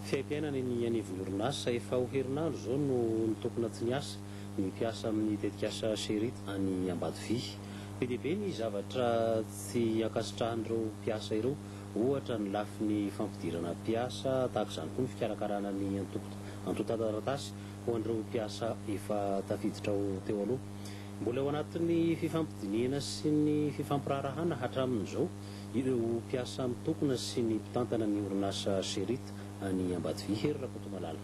Fiaimpiainana eny anivon'orinasa. Efa ho herinandro izao no nitokona tsy niasa ny mpiasa amin'ny tetikasa Cherit any Ambatovia. Be dia be ny zavatra tsy ankasitrahan'ireo mpiasa ireo, ohatra ny lafiny fampidirana mpiasa, tahaka izany koa ny fikarakarana ny antontan-taratasy ho an'ireo mpiasa efa tafiditra ao teo aloha. Mbola eo anatin'ny fifampidinihana sy ny fifampiraharahana hatramin'izao. ireo mpiasa mitokona sy ny mpitantana ny orinasa Sherit any Ambatovi. Hery Rakotomalala.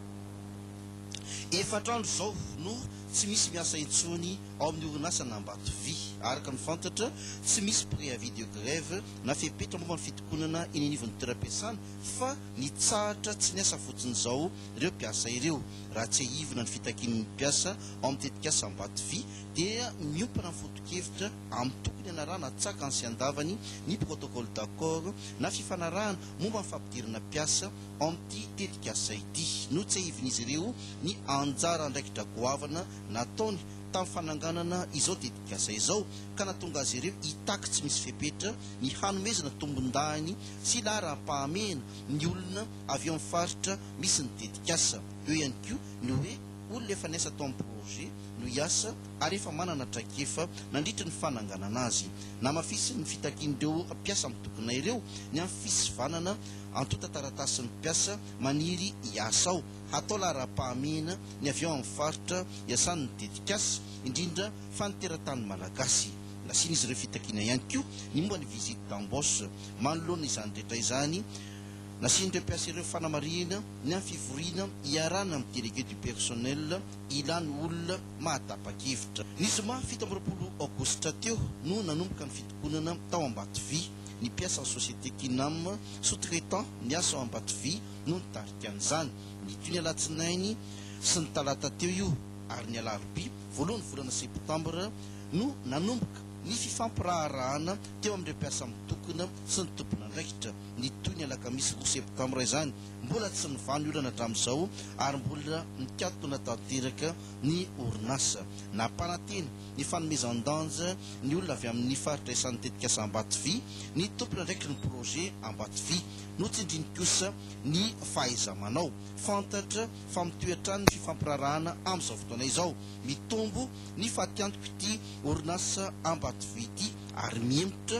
Efatra andro izao no tsy misy miasa intsony ao amin'ny orinasan'Ambatovi. Araka ny fantatra, tsy misy préavis de grève na fepetra momba ny fitokonana eny anivon'ny toeram-piasana fa nitsahatra tsy niasa fotsiny izao ireo mpiasa ireo. Raha tsiahivina ny fitakian'ny mpiasa ao amin'ny tetikasa Ambatovi dia miompana amin'ny foto-kevitra amin'ny tokony hanarahana tsakany sy andavany ny protocole d'accord na fifanarahana momba ny fampidirana mpiasa ao amin'ity tetikasa ity. Notsehivin'izy ireo ny anjara andraikitra goavana nataony tamin'ny fananganana izao tetikasa izao ka nahatonga azy ireo hitaky tsy misy fepetra ny hanomezana tombondahiny sy laharam-pahamehana ny olona avy ao amin'ny faritra misy ny tetikasa. Eo ihany koa ny hoe Olona efa niasa tao amin'ny projet no hiasa ary efa manana traikefa nandritra ny fananganana azy. Namafisin'ny fitakian'ireo mpiasa mitokona ireo ny amin'ny fisivanana antontan-taratasin'ny mpiasa maniry hiasa ao. Hatao laharam-pahamehana ny avy ao amin'ny faritra iasan'ny tetikasa, indrindra fa ny teratany malagasy. Nasian'izy ireo fitakiana ihany koa ny momba ny visite d'embauche. Manoloana izany rehetra izany, Nasian'ireo mpiasa ireo fanamarihana ny amin'ny fivoriana iarahana amin'ny Délégué du personnel ilàna olona mahatapa-kevitra. Ny zoma fito amby roapolo aogositra teo no nanomboka ny fitokonana tao Ambatovia. Ny mpiasan'ny société Kinam, sous-traitant, niasa ao Ambatovia no nitarika an'izany. Nitohy ny alatsinainy sy ny talata teo io ary ny alarobia voalohan'ny volana septambra no nanomboka ny fifampiraharahana teo amin'ireo mpiasa mitokona sy ny tompon'andraikitra. ny toy ny alakamisy roa septambra izany. Mbola tsy nivà ny olana hatramin'izao ary mbola mikatona tanteraka ny orinasa. Nampanantena ny fanomezan-danja ny olona avy amin'ny faritra isan'ny tetikasa Ambatovy ny tompon'andraikitrin'ny projet Ambatovy. Notsindriny kosa ny fahaiza-manao. Fantatra fa mitohy hatrany ny fifampiraharahana amin'izao fotoana izao. Mitombo ny fatiantoka ity orinasa Ambatovy ity ary mihemotra.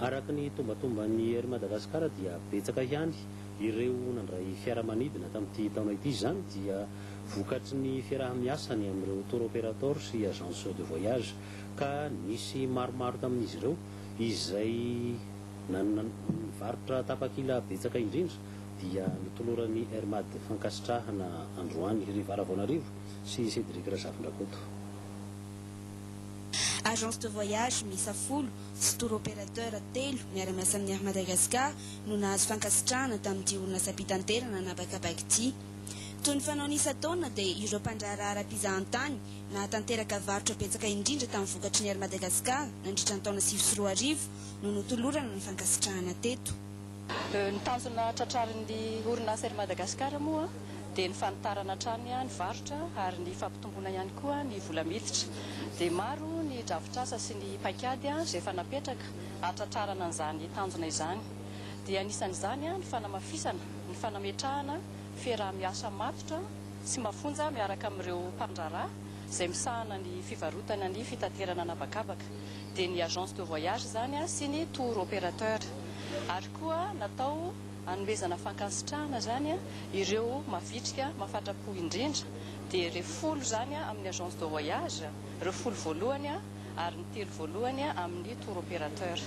Araka ny tombantomban'ny Air Madagascar dia betsaka ihany ireo nandray fiaramanidina tamin'ity taona ity, izany dia vokatry ny fiaraha-miasany amin'ireo tour operator sy agence de voyage ka nisy maromaro tamin'izy ireo izay nanana ny varotra tapakila betsaka indrindra dia notoloran'ny Air Mad fankasitrahana androany ry Vara Vaonarivo sy Cédric Razafindrakoto. Agence de voyage miisa folo sy tour opérateur telo miara-miasa amin'ny Air Madagascar no nahazo fankasitrahana tamin'ity orinasam-pitanterana an'habakabaka ity. Toy ny fanaony isan-taona dia ireo mpandraharaha ara-pizahantany nahatanteraka varotra betsaka indrindra tamin'ny vokatry ny Air Madagascar nandritra ny taona sivy sy roa arivo no notolorana ny fankasitrahana teto. Ny tanjona tratrarin'ny orinasa Air Madagascar moa dia ny fanitarana hatrany ny varotra ary ny fampitomboana ihany koa ny vola miditra. Dia maro ny drafitr'asa sy ny paikady izay efa napetraka hahatratrarana an'izany tanjona izany. Dia anisan'izany ny fanamafisana ny fanametrahana fiaraha-miasa matotra sy mafonja miaraka amin'ireo mpandraharaha, izay misahana ny fivarotana ny fitaterana an'habakabaka, dia ny agence de voyage izany sy ny tour opérateur. Ary koa natao hanomezana fankasitrahana izany ireo mavitrika mafatrapo indrindra, dia ireo folo izany amin'ny agence de voyage, ireo folo voalohany ary ny telo voalohany amin'ny tour opérateur.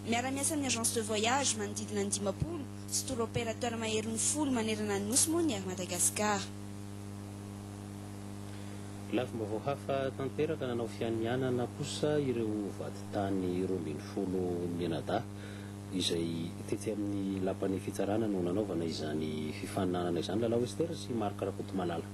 Miara-miasa amin'ny agence de voyage manodidina ny dimampolo sy tour opérateur maherin'ny folo manerana ny Nosy moa ny Air Madagascar. Lafim-baovao hafa tanteraka nanao fianianana kosa ireo vadintany roa ambin'ny folo mianadahy izay tetsy amin'ny lapan'ny fitsarana no nanaovana izany fifaninanana izany, Lalao Esther sy Marc Rakotomalala.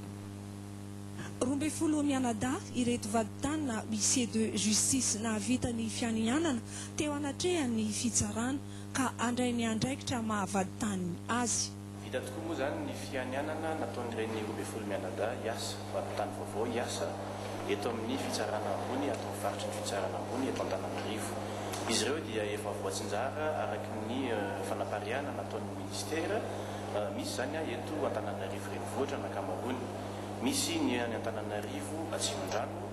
Roa ambin'ny folo mianadahy ireto vadintany na huissiers de justice nahavita ny fianianana teo anatrehan'ny fitsarana ka handray ny andraikitra maha vadintany azy. Vita tokoa moa izany ny fianianana nataon'ireny roa ambin'ny folo mianadahy hiasa mpanontany vaovao hiasa eto amin'ny Fitsarana Ambony ato amin'ny faritry ny Fitsarana Ambony eto Antananarivo. Izy ireo dia efa voatsinjara araka ny fanapariahana nataon'ny Minisitera misy izany eto Antananarivo Renivohitra ny ankamaroany. Misy ny any Antananarivo Atsimondrano.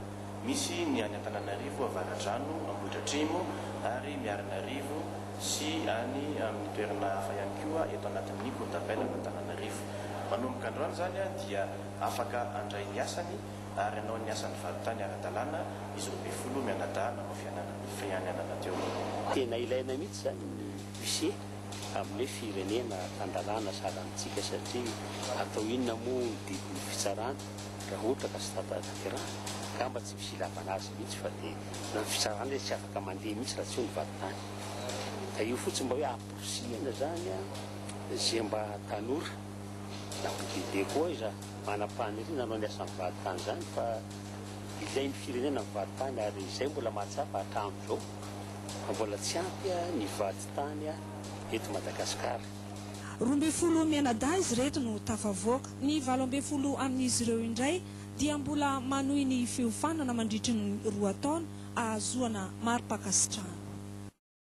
Misy ny any Antananarivo Avaradrano, Ambohidratrimo ary Miarinarivo sy any amin'ny toerana hafa ihany koa eto anatin'ny Courtapelle-an'Antananarivo. Manomboka androany izany dia afaka handray ny asany ary hanao ny asany varontany ara-dalàna izy roa ambin'ny folo mianadahy nanao fianianana teo. Tena ilaina mihitsy izany ny huissier amin'ny hoe firenena tan-dalàna sahalantsika satria atao inona moa ny didin'ny fitsarana? Raha ohatra ka tsy tapa-tanterahana, angamba tsy misy ilavana azy mihitsy fa dia na ny fisarahana izy tsy afaka mandeha mihitsy raha tsy eo ny vadintany. Ka io fotsiny mba hoe amporisihina izany izay mba tanora na olon-dehibe koa aiza manam-paniriana hanao ny asan'ny vadintany izany fa ilain'ny firenena ny vadintany ary izay mbola mahatsapa hatramin'izao fa mbola tsy ampy ny vadintany eto Madagasikara. Roa ambin'ny folo mianadahy izy ireto no tafavoaka. Ny valo ambin'ny folo amin'izy ireo indray dia mbola manohy ny fiofanana mandritry ny roa taona ahazoana mari-pankasitrahana.